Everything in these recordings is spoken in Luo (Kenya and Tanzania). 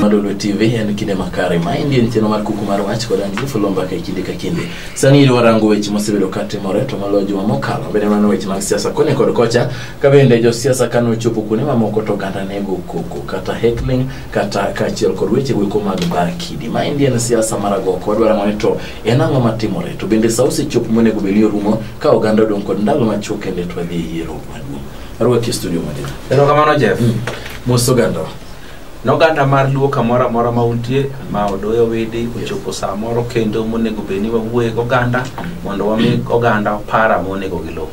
Madolo TV en kinde makare ma endi en chenro mar kuku mar wach kod an Joseph Lomba ka kinde ka kinde. Sani idwa rango weche mosebedo ka timore to maloyo juma mokalo bende mano weche mag siasa koni kod kocha ka bende josiasa kane ochopo kuonde mamoko to oganda nego koko kata heckling kata kaachiel kod weche goeko mag bar kidi. Ma endi en siasa mar agoko wadwa rango ni to en ang'o matimore to bende sa osechopo monego bed ni orumo ka oganda odong' kod ndalo machuok kende to wadhi e yiero maduong'. Ruoth e studio mangima. Erokamano Jeff. Mos oganda. Noganda mar luo kamoro amora ma untie ma odoyo widi ochopo saa moro kendo monego bed ni wawuoye goganda mondo wami oganda para monego giluw.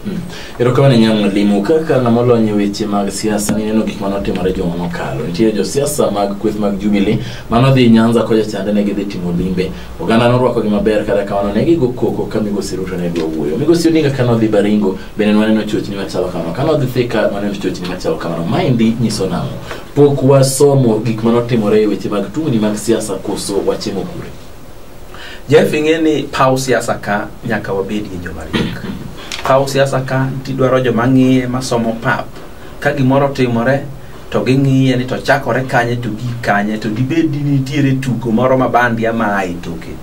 Erokamano nyang' limo kaka ng'ama olony e weche mag siasa nineno gik mane otimore juma mokalo. Nitie josiasa mag kweth mag Jubilee mane odhi Nyanza kocha chande ne gidhi timo limbe. Oganda norwakogi maber kata kamano ne gigo koko ka migosi Ruto ne dwa wuoyo. Migosi Odinga kane odhi Baringo bende nwaneno chochni machalo kamano kane wadhi thika nwaneno chochni machalo kamano maendi nyiso nang'o pok wasomo gik ma notimore e weche mag tungni mag siasa koso wachimo kure jeff ing'e ni paw siasa ka nyaka wabedie joma riek paw siasa ka tidwaro joma ng'iye masomo pap ka gimoro timore to ging'iye ni to chakore kanye to gik kanye to dibed ni nitiere tugo moro ma bandi ama ae toke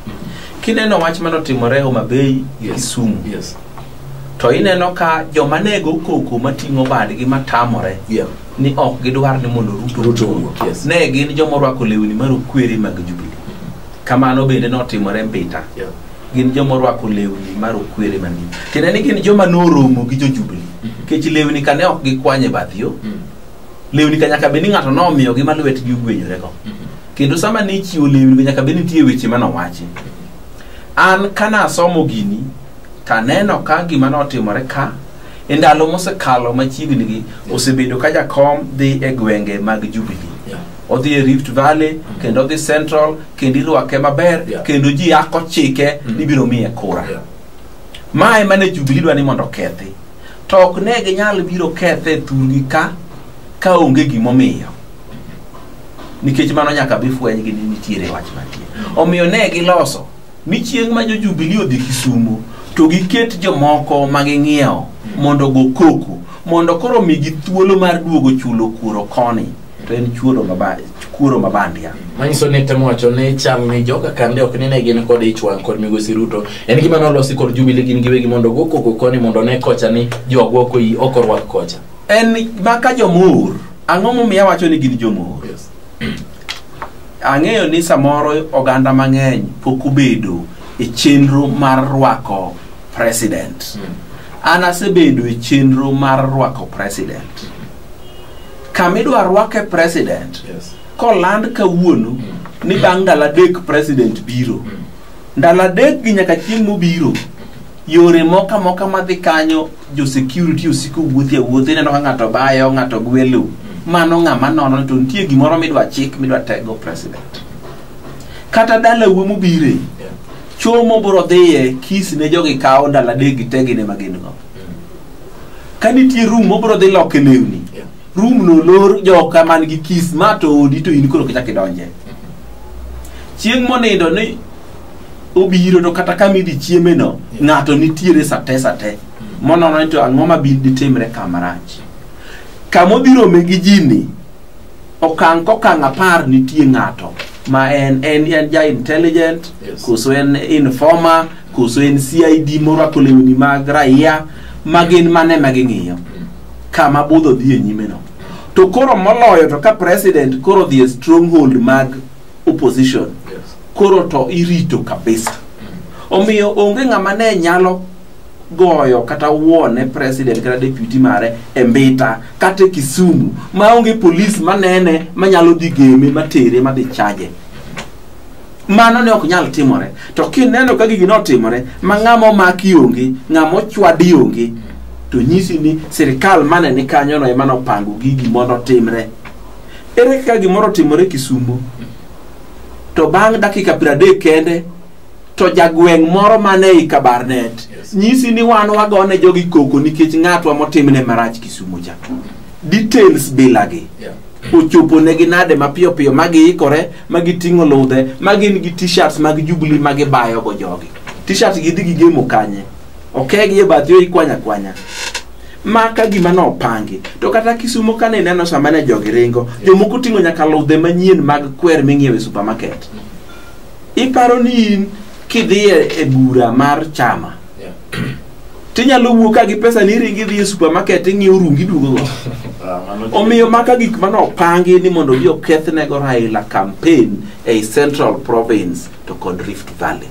kineno wach manotimore Homa Bay gi Yes. Kisumu Yes. to ineno ka joma nego koko mating'o badgi matamore Yeah. ni ok gidwar ni mondo ruto Ruto owuo. owuo, yes. ne gin joma orwako lewni marokwere mag jubili kamano bende notimore mbita Yeah. gin joma orwako lewni marokwere man gi tiende ni gin joma noromo gi jojubili nikech lewni ka ne ok gikwanye bath yo Mm. lewni ka nyaka bed ni ng'ato nomiyogi ma lwetgi ogwenyorego kendo sama ne ichiwo lewni nyaka bed nitie weche manowachi an kanasomo gini to aneno ka gima notimore ka e ndalo mosekalo machiegni gi osebedo ka jakom dhi e gwenge mag Jubilee Yeah. odhi e Rift Valley kendo odhi Central kendo irwake maber Yeah. kendo ji yako chike Mm. ni biro miye kura Yeah. ma ema ne Jubilee dwa ni mondo okethi to ok ne ginyal biro kethe e thurgi ka ka onge gimomiyo nikech mano nyaka bi fwenygi ni nitiere wach mantie omiyo ne giloso ni chieng' ma jojubili odhi kisumo to giket jomoko ma ging'iewo mondo go koko mondo koro migi thuolo mar duogo chulo kuoro koni to en chuoro maba- kuoro mabandia manyiso ni temo wacho ni chal ni joka kande ok nine gin kod ich wang' kod migosi ruto en gima nolosi kod jubili gin giwegi mondo go koko koni mondo ne kocha ni jogwa ok oyi- ok orwak kocha en maka jomor ang'o momiyo awacho ni gin jomor Ang'eyo ni samoro oganda mang'eny pok obedo e chenro mar rwako president. An asebedo e chenro mar rwako president. Kama idwa rwake president, Yes. koland kawuono ni bang' ndalo adek president biro. Ndalo adek gi nyaka chieng' mobiro, yore moko amoka madhi kanyo jo security osiko wuothi awuothi ineno ka ng'ato bayo ng'ato gwelo mano ng'ama nono to nitie gimoro midwa chik midwa tego president kata dalau mobire chomo bro dhiye kis ne jogi kawo ndalo adek gi tegine ma gin go ka nitie room mobro dhi loke lewni room no lor joka man gi kis ma to odi to in koro kichak idonje chieng' monindo ni obiro to kata kama idhi chieme no ng'ato nitiere sate sate monono ni to ang'o ma bi ditimre kamarach kama odhi rome gi ji ni okang' kokang' apar nitie ng'ato ma en en en ja intelligent Yes. koso en informer koso en CID morwako lewni mag raia ma gin mane ma ging'iyo kama budho dhi e nyime no to koro moloyo to ka president koro dhi e stronghold mag opposition Yes. koro to irito kabisa omiyo onge ng'ama ne nyalo goyo kata wuone president kata deputy mare e mbita kata e kisumu ma onge polis manene manyalo dhi geme matere madhi chaje mano ne ok nyal timore to kineno ka gigi notimore ma ng'ama omaki onge ng'ama ochwadi onge to nyisi ni sirikal mane ni kanyono ema nopango gigi mondo otimre Ere kaka gimoro otimore Kisumo to bang' dakika piero adek kende to jagweng' moro man ei Kabarnet Yes. nyisi ni wan wagone jogi koko nikech ng'atwa motimne marach Kisumo cha. Details bilagi. Yeah. ochoponegi nade mapiyo piyo ma giikore ma giting'o ludhe ma gin gi t-shirts mag jubli ma gibayogo jogi t-shirt gi dhi gigemo kanye okegi e bathi oikwanya kwanya ma ka gima nopangi to kata kisumo kane ineno sama ne jogi ringo jomoko ting'o nyaka ludhe manyien mag kwer ming'iewo e supermarket iparo ni in kidhiye e bura mar chama tinyalo wuok ka gi pesa ni iringi idhi e supermarket ing'iewo rungi duogogo omiyo maka gik mane opangi ni mondo ji okethnego raila campaign ei central province to kod Rift Valley.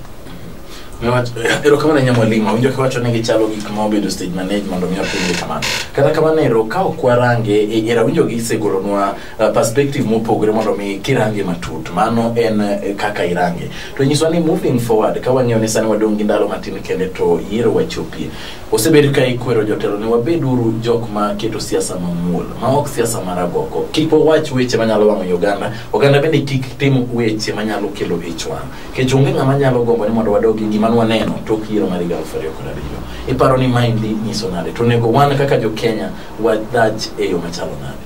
erokamano ahinya mwalimu awinjo kiwacho ni gichalo gik ma obedo stage manage mondo mi wapenje kamano kata kamano ero ka ok warange e, ero awinjo gisegolonwa uh, perspective mopogore mondo mi kirange matut mano en eh, kaka irange to nyiswa ni moving forward ka wang'eyo ni sani wadong' gi ndalo matin kende to yiero wachopie Osebed ka ikwero jotelo ni wabed uru jok ma keto siasa mamuol ma ok siasa mar agoko. Kik wawach weche manyalo wang'o i oganda. Oganda bende kik tim weche manyalo kelo ich wang'. Kech onge ng'ama nyalo gombo ni mondo wadog gi gima nwaneno tok yiero mar higa aluf ariyo kod abiriyo. Iparo ni maendi nyiso nade? To onego wan kaka jo Kenya wadhach e yo machalo nade?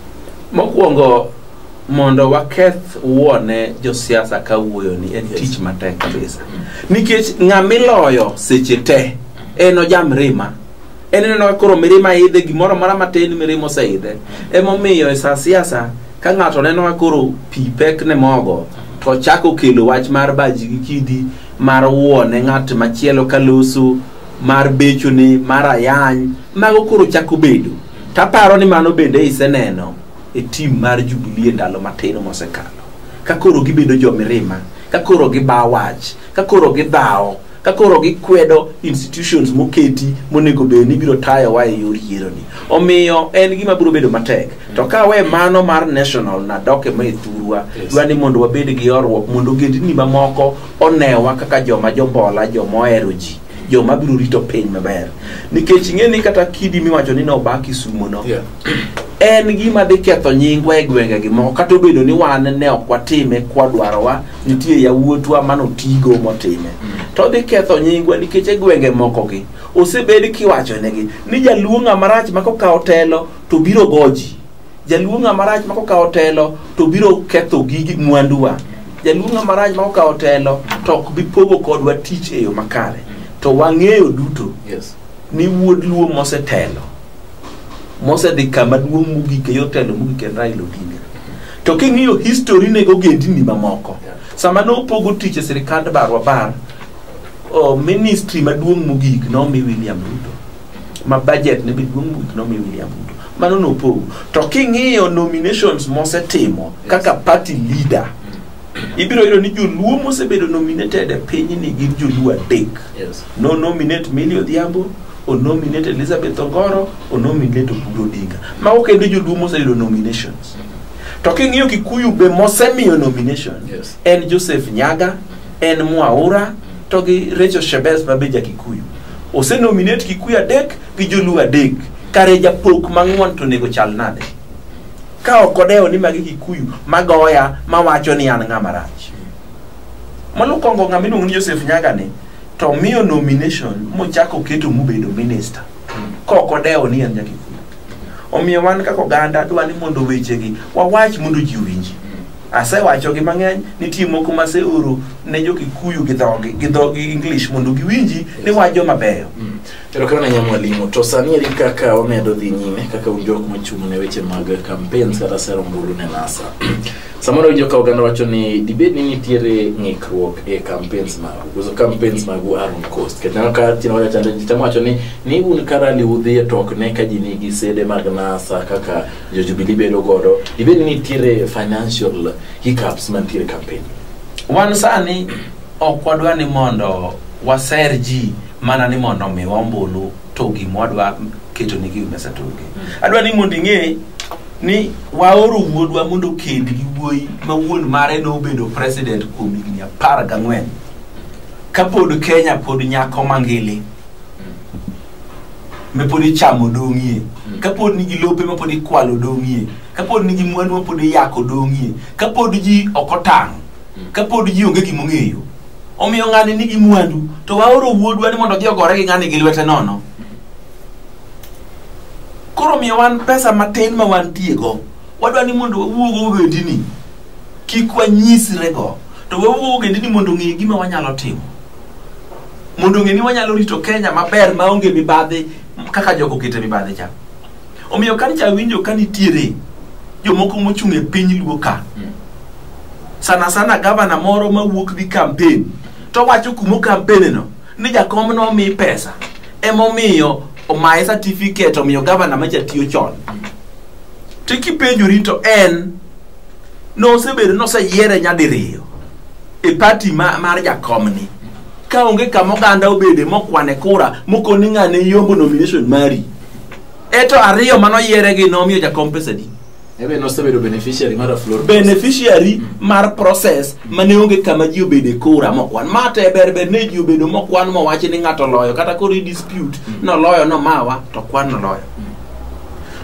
Mokwongo mondo waketh wuone josiasa ka wuoyoni en tich matek kabisa nikech ng'ama iloyo seche te en ojam rima en ineno ka koro mirima idhe gimoro mora matin mirima oseidhe emomiyo e sa siasa ka ng'ato neno ka koro pi pek ne mogo to chako kelo wach mar baji gi kidi mar wuone ng'at machielo ka loso mar bechone mar ayany mago koro chako bedo taparo ni mano bende iseneno e tim mar Jubilee e ndalo matin mosekalo ka koro gibedo jomirima ka koro gibawo wach ka koro gidhawo ka koro gikwedo institutions moketi monego bed ni biro tayowa e yor yieroni omiyo en gima biro bedo matek to ka we mano mar national na doke ma e thurwa Yes. dwa ni mondo wabed gi horruok mondo ogendni mamoko onewa kaka joma jombola joma ohero ji jo ma biro rito piny maber nikech ing'e ni kata kidi miwacho ni noba kisumo no Yeah. en gima dhi ketho nyingwa e gwenge gi moko kata obedo ni wan ne ok watime kwadwarowa nitie yawuotwa manotigo motime to dhi ketho nyingwa nikech e gwenge moko gi osebed kiwachonegi ni jaluo ng'ama rach ma kokawo telo to biro goji jaluo ng'ama rach ma kokawo telo to biro ketho gigi mwanduwa jaluo ng'ama rach ma kokawo telo to ok bi pogo kodwa tich e yo makare to wang'eyo duto Yes. ni wuod luo mosetelo mosedhi kama duong' mogik e yor telo mogik en Raila Odinga to king'iyo history ne ogendini mamoko Yeah. sama ne opogo tich e sirikand barwa bar o, ministry maduong' mogik nomi William Ruto ma budget ne be duong' mogik nomi William Ruto mano nopogo to king'iyo nominations mosetimo kaka party leader ibiro yudo ni joluo mosebedo nominated e pinyni gin joluo adek Yes. no nominate Millie Odhiambo o nominate Elizabeth Ongoro o nominate Oburu Odinga mago kendo joluo moseyudo nominations to king'iyo Kikuyu be mosemiyo nomination Yes. en Joseph Nyaga en Mwaura to gi Rachel Shebes ma be ja Kikuyu. Ose nominate Kikuyu adek gi Joluo adek. Kare japok mang'won to onego chal nade? Ka ok odewo ni magi Kikuyu magoya mawacho ni an ng'ama rach. Molukongo ng'ama iluongo ni Joseph Nyaga ni to miyo nomination mochako oketo mobedo minister ka ok odewo ni en ja Kikuyu. Omiyo wan kaka oganda dwa ni mondo wechegi wawach mondo ji owinji. Asewachogi mang'eny, nitie moko maseoro ne jo Kikuyu gi dhogi, gi dhogi English mondo giwinji ni wach joma beyo. Mm. Erokamano ahinya mwalimu. To sani eri kaka wamedo dhi nyime kaka un jok mochung' ne weche mag campaigns kata sero ombulu ne NASA. Samoro winjo ka oganda wacho ni dibed ni nitiere ng'ikruok e campaigns magu. Because campaigns magu are on coast. Kendo aneno ka chino wacho chande ji temo wacho ni ni un ka rally udhiye to ok ne ka ji nigi sede mag NASA kaka jo Jubilee bedo godo ibed ni nitiere financial hiccups mantiere campaign wan sani ok wadwa ni mondo waser ji mana ni mondo omiwa ombulu to gima wadwa keto ni gigo mesa togi adwa ni mondo ing'e ni waoro wuodwa mondo okend gi wuoyi ma wuon mare nobedo president kuom higni apar gang'wen kapod kenya pod nyako mangili mapod ichamo dong'ie mm. kapod nigi lope mapod ikwalo dong'ie kapod nigi mwandu mapod iyako dong'ie kapod ji ok otang' mm. kapod ji onge gimong'eyo omiyo ng'ani nigi mwandu to waoro wuodwa ni mondo odhi ogore gi ng'ani gi lwete nono koro miyo wan pesa matin ma wantiego wadwa ni mondo wawuogo wendini kik wanyisrego to wawuogo wendini mondo ong'e gima wanyalo timo mondo ong'e ni wanyalo rito kenya maber maonge mibadhi kaka jogo okete mibadhi cha omiyo ka nicha winjo ka nitiere jomoko mochung' e piny luo ka sana sana gavana moro mawuok dhi kampen to wacho kuma okampeneno ni jakom nomi pesa emomiyo omaye certificate omiyo gavana machatiyo chon to kipenjori to en nosebedo noseyiere nyadiriyo e pati ma, mar jakomni ka onge kama oganda obede mokwane kura mokoni ng'ane yombo nomination mari eto ariyo manoyiere gi nomiyo jakom pesadi Ebe nosebedo beneficiary mar Aflor. beneficiary mar process mane onge kama ji obede kura mokwan ma te ber ber ne ji obedo mokwan mowachi ni ng'ato loyo kata koro i dispute noloyo nomawa to kwan noloyo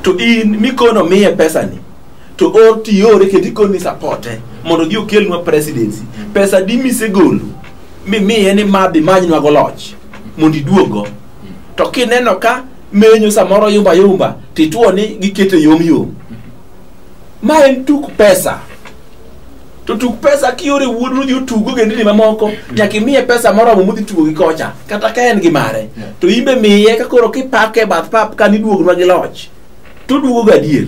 to in mikono miye pesani to or tiore kendo ikoni sapote mondo odhi okelnwa presidency pesa di misegolo mimiye ni madhi manynwago loch mondo iduogo to kineno ka menyo samoro yumba yumba tituo ni gikete yom yom ma en tuk pesa to tuk pesa kiore wuod nodhi otugo gendini mamoko nyaka imiye pesa moromo modhi tugo gi kocha kata ka en gi mare to imbe miye ka koro kipake bath pap kaniduognwa gi loch to oduogo gadier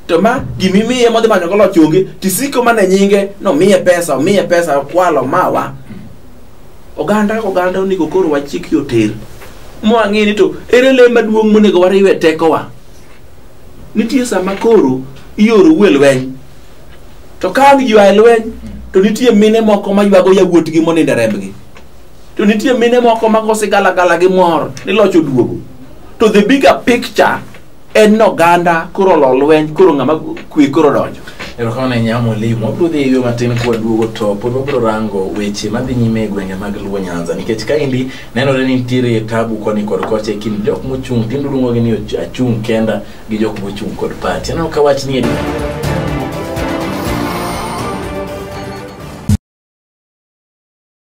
to ma gimimiye modhi manyo golo chonge tisiko mane nyinge nomiye pesa omiye pesa okwalo mawa oganda oganda onego koro wachik yoter mwang'e ni to ere le maduong' monego wariwe tekowa nitie sama koro ioro wuo e lweny to ka ang' ywa e lweny to nitie mine moko maywago yawuotgi monindo e rembgi to nitie mine moko mago sigalagala gi mor ni loch oduogo to the bigger picture en noganda koro lo lweny koro ng'ama kwe koro donjo erokamano ahinya mwalimu wabiro dhi eyo matin kwaduogo to pod wabiro rango weche madhi nyime e gwenge mag luo nyanza nikech kaendi nenore ni nitiere tabu koni kod kocha e kind jok mochung' tindo luongogi ni och- achung' kenda gi jok mochung' kod pati aneno ka wach ni e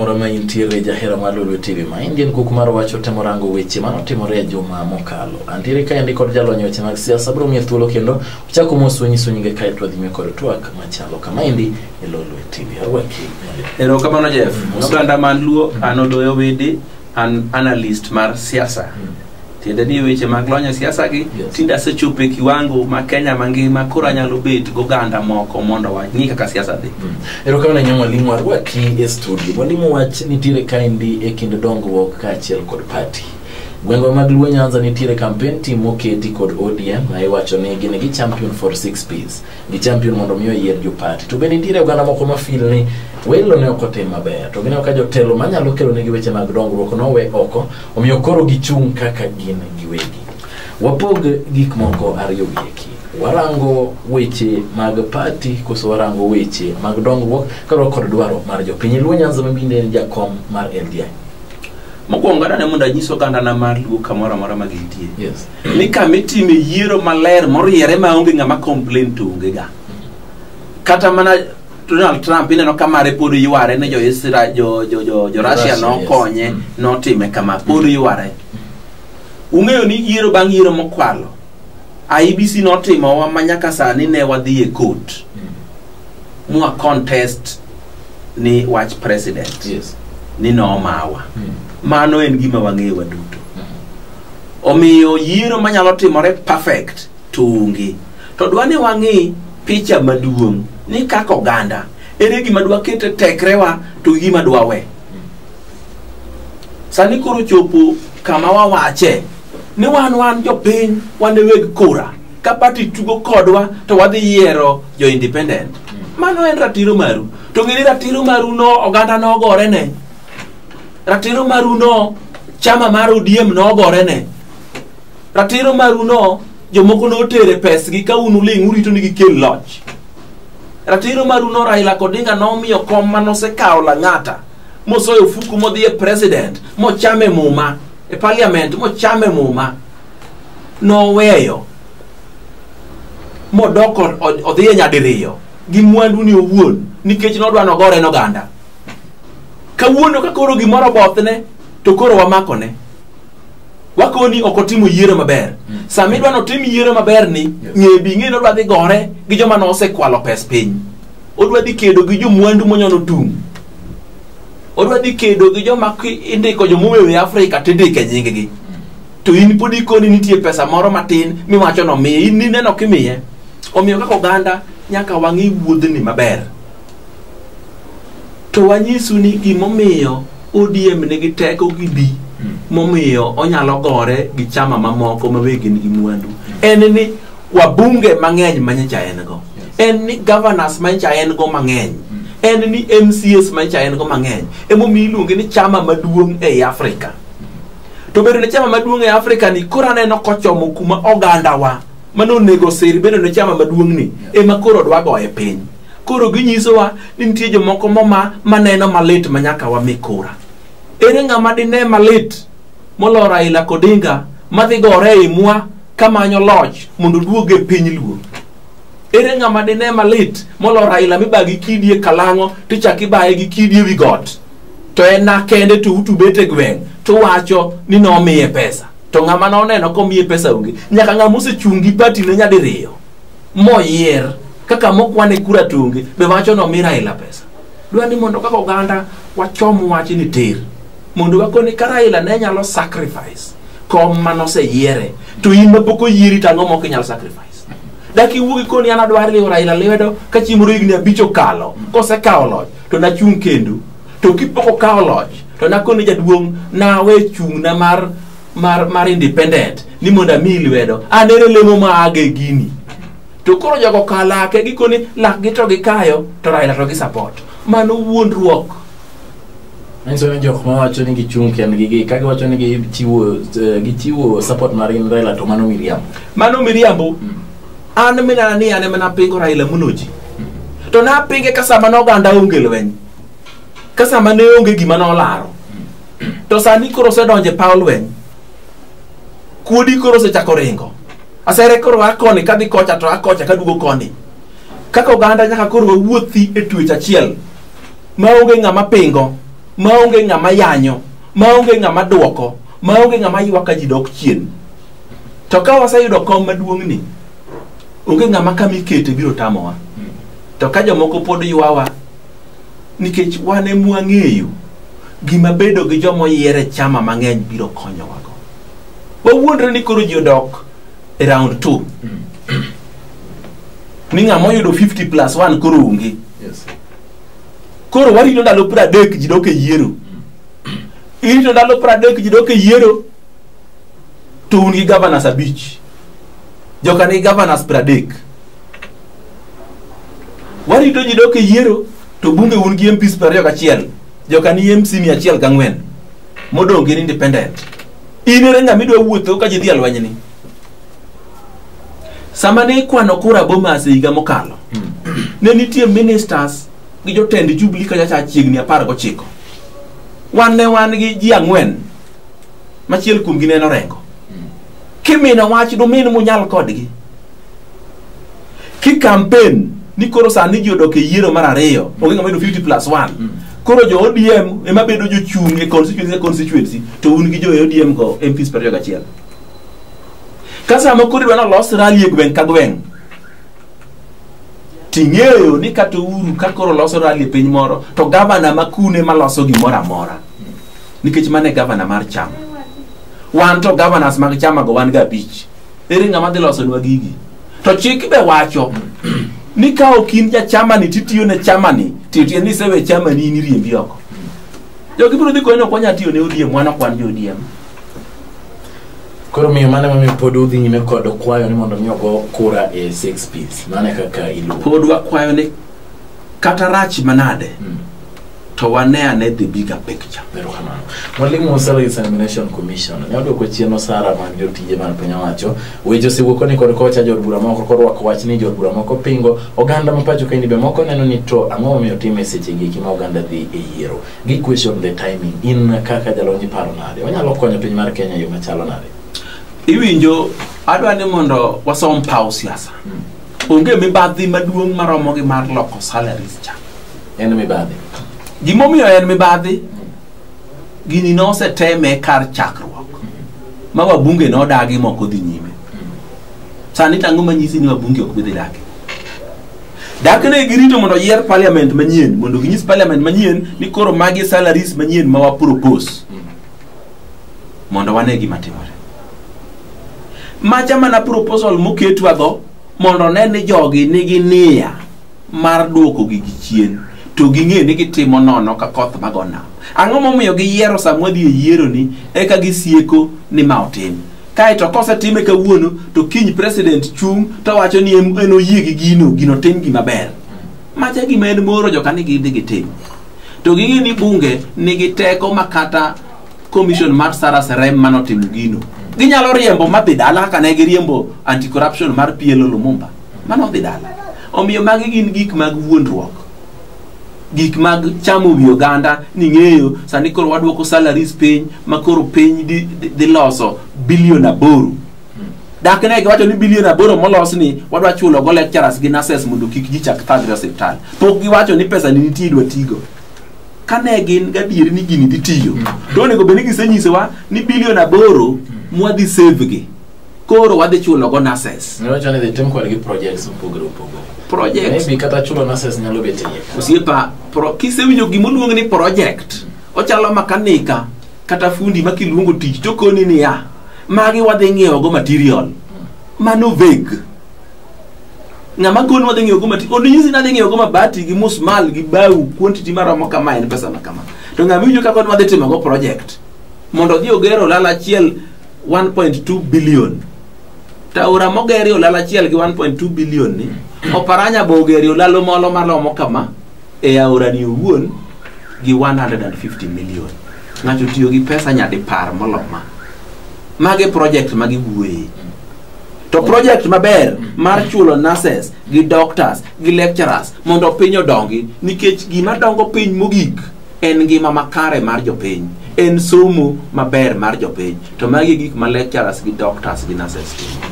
moro ma intiere jahera mar Lulu TV ma in gin kuk mar wacho temo rango weche ma notimore e juma mokalo. Antiere ka endi kod jalony weche mag siasa bro miye thuolo kendo uchako mos unyiso nyinge kae to wadhi nyime kod twak machalo kama endi erokamano jeff oganda man luo an odoyo widi an analyst mar siasa tiende ni weche mag lony e siasa gi tinde asechopo e kiwango ma kenya mangima koro anyalo bet goganda moko mondo wang'i kaka siasa dhi erokamano nyang mwalimu arwaki e studio mwalimu wach nitiere kaendi e kind dongruok kaachiel kod pati gwenge mag luo nyanza nitiere kampen tim moketi kod odm ma iwacho ni gin gi champion for six piece gi champion mondo mi oyier jo party to bende nitiere oganda moko ma feel ni welo ne ok otim maber to gineno ka jotelo manyalo kelo negi weche mag dongruok nowe oko omiyo koro gichung' kaka gin giwegi wapog gik moko ariyo wieki warango weche mag party koso warango weche mag dongruok kaluwore kod dwaro mar jopiny luo nyanza mabinde en jakom mar ldi mokwongo adane mondo anyis ogandana mar luo kamoro amora ma gintie yes ni kama itime yiero maler moriere maonge ng'ama complain to onge ga kata mana Donald Trump ineno ka mare pod yware ne jo Israel jo jo jo, jo Russia Russia, nokonye yes. Mm. notime kama pod yware ung'eyo ni yiero bang' yiero mokwalo IBC notimowa ma nyaka sani ne wadhi e court mwa contest ni wach president Yes. ni nomawa Mm. mano en gima wang'eyo waduto Omiyo yiero manyalo timore perfect to onge. To dwa ni wang'i picha maduong' ni kaka oganda ere gima dwa kete tekrewa to gi gima dwa we. Sani koro chopo kama wawache ni wan wan jopiny wan e weg kura ka pati tugo kodwa to wadhi yiero jo independent. Mano en ratiro maru. To ng'eni ratiro maru no oganda nogore ne. ratiro maru no chama mar odiem nogore ne ratiro maru no jomoko notere pesgi ka un uling' urito ni gikel loch ratiro maru no raila kodinga nomiyo kom ma nosekawo lang'ata mosoyo ofuku modhi e president mochame muma e parliament mochame muma noweyo modoko odhi e nyadiriyo gi mwanduni owuon nikech nodwa nogore noganda kawuono ka koro gimoro obothne to koro wamakone wakoni ok otimo yiero maber sama idwa notim yiero maber ni ng'e bi ng'e ni odwa dhi gore gi joma nosekwalo pes piny odwa dhi kedo gi jomwandu monyono tung' odwa dhi kedo gi joma ki- indiko jomowewe afrika to indike nyinggi to in pod ikoni nitie pesa moro matin miwacho nomiye in nineno kimiye omiyo kaka oganda nyaka wang'i wuodhni maber to wanyisu ni gimomiyo ODM nigi teko gi bi momiyo onyalo gore gi chama mamoko ma be gin gi mwandu en ni wabunge mang'eny ma nyacha en go en ni governors ma nyacha en go mang'eny en ni mcs ma nyacha en go mang'eny emomiyo iluonge ni chama maduong' ei africa to bedo ne chama maduong' e africa ni koro aneno kochomo kuma ogandawa mane onego sir bedo ne chama maduong'ni ema koro dwagoye piny koro ginyisowa ni nitie jomoko moma maneno malit ma nyaka wami kura ere ng'ama dine malit molo raila kodinga madhi gore e imwa kamanyo loch mondo duog e piny luo ere ng'ama dine malit molo raila miba gi kidi e kalang'o tichak ibaye gi kidi e wi got to en na kende to utubet e gweng' to wacho ni nomiye pesa to ng'ama noneno komiye pesa onge nyaka ng'ama osechung' gi patine nyadiriyo moyier kaka mokwane kura tunge be wacho ni omi Raila pesa. Dwa ni mondo kaka oganda wachom wach ni tir mondo wakoni ka Raila ne nyalo sacrifice kom mane oseyiere to in ma pok oyieri to ang'o ma ok inyal sacrifice. Dak iwuogi koni an adwar liwo Raila lwedo ka chieng' moro higni abich okalo kosekawo loch to nachung' kendo to kipok okawo loch to nakoni jaduong' nawe chung'na mar mar mar independent ni mondo amiyi lwedo an ere lemo ma aga e gini to koro jogo ka lake gikoni lakgi to gikayo to raila to gisupport mano wuondruok Nyiso ni jok mawacho ni gichung' kendgi gi ka giwacho ni gichiwo eh, gichiwo support mar in Raila to mano miriambo. mano miriambo an minana ni an ema napingo raila moloji to napinge ka sama noganda onge lweny ka sama ne onge gima nolaro to sani koro osedonje paw lweny kuodi koro osechako ringo asere koro akoni kadhi kocha to akocha kadugo koni kaka oganda nyaka koro wawuothi e tuech achiel maonge ng'ama pingo maonge ng'ama yanyo maonge ng'ama dwoko maonge ng'ama ywak ka ji dok chien to ka waseyudo kom maduong'ni onge ng'ama kama ikete biro tamowa to ka jomoko pod ywawa nikech wan e mwang'eyo gima bedo gi joma oyier e chama mang'eny biro konyowago wawuondre ni koro ji odok e round two ni ng'ama oyudo 50 plus 1 koro onge Yes. koro warito ndalo pradek ji dok e yiero irito ndalo pradek ji dok e yiero to un gi governors abich joka ni governors pradek warito ji dok e yiero to bunge un gi MPs piero ariyo gachiel joka ni MC mia achiel gang'wen modong' gin independent in ere ng'ama idwa wuotho ka ji dhi e lwenyni sama ne ikwano kura Bomas e higa mokalo ne nitie ministers gi jotend Jubilee kachacha chiegni apar gochiko wan ne wan gi ji ang'wen machiel kuomgi ne en Orengo kimine wach dumin munyal kodgi ki kampen ni koro sani ji odok e yiero mar ariyo onge ng'ama yudo 50 plus 1 mm. koro jo odm ema bedo jochung' e constituency constituency to un gi jo e odm go mps piero gachiel ka sama koro idwa nolos rali e gweng' ka gweng' ting'eyo ni kata uru ka koro loso rali e piny moro to gavana ma kune maloso gimoro amora nikech mano e gavana mar chama wan to governors mag chama go wan ga abich ere ng'ama dhi losonwa gigi to chik be wacho ni ka ok in ja chamani titiyo ne chamani titie ni sewe chamani in iriembi oko jogi biro dhi konyo kwanya tiyo ne odiem wan ok wan jo odiem koro miyo mane mamiyo pod udhi nyime kod kwayo ni mondo mi ogo kura e six piece mane kaka iluwo pod wakwayo ni kata rach manade Mm. to wane ane the bigger picture Erokamano. Mwalimu wa Salary Examination Commission ne odwoko chien osara mag jotije mag piny owacho. Weche osewuok ni kod kocha jod bura moko korwako wach ni jod bura moko pingo oganda ma pacho kaendi be moko neno ni to ang'o momiyo time seche gi eki ma oganda dhi e yiero. Gi question the timing in kaka jalony iparo nade? Onyalo konyo piny mar Kenya e yo machalo nade? iwinjo adwa ni mondo wasom paw siasa Mm. onge mibadhi maduong' maromo gi mar loko salaries cha en mibadhi gimomiyo en mibadhi gini noseteme kar chakruok ma wabunge nodagi moko dhi nyime sani tango manyisi ni wabunge ok bidhi dagi dak ne girito mondo yier parliament manyien mondo ginyis parliament manyien ni koro magi salaries manyien ma wapropose mondo wane gima timore macha mana proposal moketwa dho mondo one ni jogi nigi niya mar duoko gigi chien to ging'e ni gitimo nono ka koth mago nam ang'o momiyo giyiero samwa dhi e yieroni eka gisieko ni ma otim kaeto kosetime kawuono to kiny president chung' to wacho ni en en oyie gi gino gino tim gima ber macha gima en moro joka ni gidhi gitim to ging'e ni bunge nigi teko ma kata commission mar Sarah Serem manotimo gino ginyalo riembo madhi dala kaka ne giriembo anti corruption mar PLO Lumumba mano dhi dala omiyo magi gin gik mag wuondruok gik mag chamo wi oganda ni ng'eyo sani koro wadwoko salaries piny ma koro piny dhi- dhi dhi loso bilion aboro dak ne giwacho ni bilion aboro molos ni wadwa chulo go lecturers gi nurses mondo kik ji chak thagre osiptal pok giwacho ni pesa ni nitie idwa tigo kane gin gadieri ni gini dhi tiyo mm. to onego bed ni gisenyisowa ni bilion aboro mm. mwadhi save gi koro wadhi chulo go nases osiepa kisewinjo gimoluong ni project mm. ochalo makanika kata fundi ma kiluongo tich tokoni niya magi wadhi ng'iewogo material mano veg ng'ama koni wadhi ng'iewo go mati onyisi nadhi ng'iewo go mabati gi musmal gi bau quantity maromo kama en pesa ma kama to ng'ama iwinjo kaka wadhi timo go project mondo odhi oger olala achiel 1.2 billion to aora mogeri olala achiel gi 1.2 billion ni oparanya bo ogeri olalo molo maromo kama e aorani owuon gi 150 million ng'ato tiyo gi pesa nyadipar moloma magi project magi wuoye to project maber mar chulo nurses gi doctors gi lecturers mondo piny odongi nikech gima dongo piny mogik en ngima makare mar jopiny en somo maber mar jopiny to magi e gik ma lecturers gi doctors gi nurses timo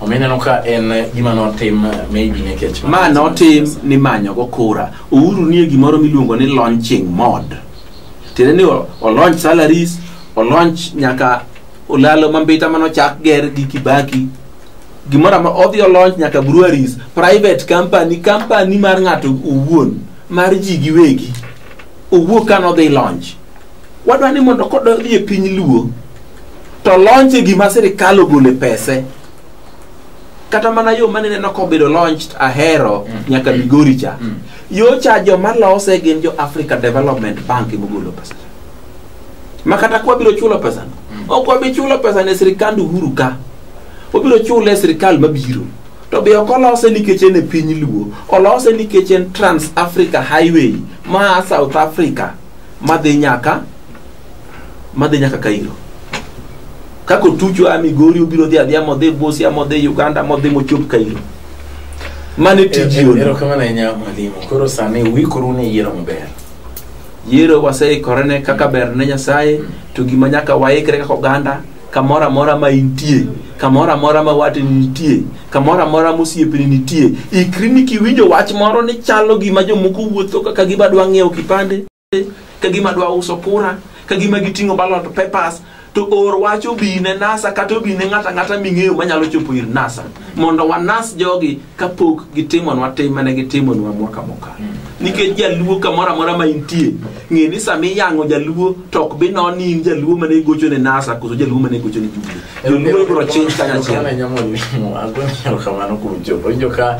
omiyo ineno ka en eh, gima notim eh, maybe nikech ma notim ni manyogo kura uhuru nie gimoro miluongo ni launching mod tiende ni o- o launch salaries o launch nyaka olalo mambita mane ochak ger gi kibaki gimoro ama odhi olonch nyaka breweries private company company mar ng'ato owuon mar ji giwegi owuok ka nodhi launch wadwa ni mondo kododhi e piny luo to launch e gima sirikal ogole pese kata mana yo mane neno kobedo launched ahero Mm. nyaka migori cha Mm. yo cha joma lose gin jo africa development bank emogolo pesa ma kata kwa biro chulo pesa ok wabi chulo pesa ne sirikand uhuru ka obiro chule e sirikal mabiro to be ok olose nikech en e piny luo olose nikech en trans africa highway ma south africa madhi nyaka madhi nyaka kairo kaka otucho a migori obiro dhi adhiya modhi busia modhi uganda modhi mochop kairo mane tiji ono erokamano ahinya mwalimu koro sani uikuru ne yiero maber yiero waseikorene kaka ber ne nyasaye to gima nyaka waikre kaka oganda kamoro amora ma intie kamoro amora ma wateni nitie kamoro amora ma osiepeni nitie ikri ni kiwinjo wach moro ni chalo gima jomoko wuotho kaka gima dwa ng'iewo kipande ka gima dwa uso kura ka gima giting'o ballot papers to or wach obi ne nasa kata obi ne ng'ata ng'ata ming'eyo manyalo chopo ir nasa mondo wanas jogi kapok gitimonwa tim mane gitimonwa mwaka mokalo nikech jaluo kamoro amora ma intie ng'e ni sama iyang'o jaluo to ok bi non ni in jaluo mane igocho ne nasa koso jaluo mane igocho ne jumbe joluo ibiro chinj kanyachiel Erokamano nyamoni. Agoni erokamano kuom chopo. Winjo ka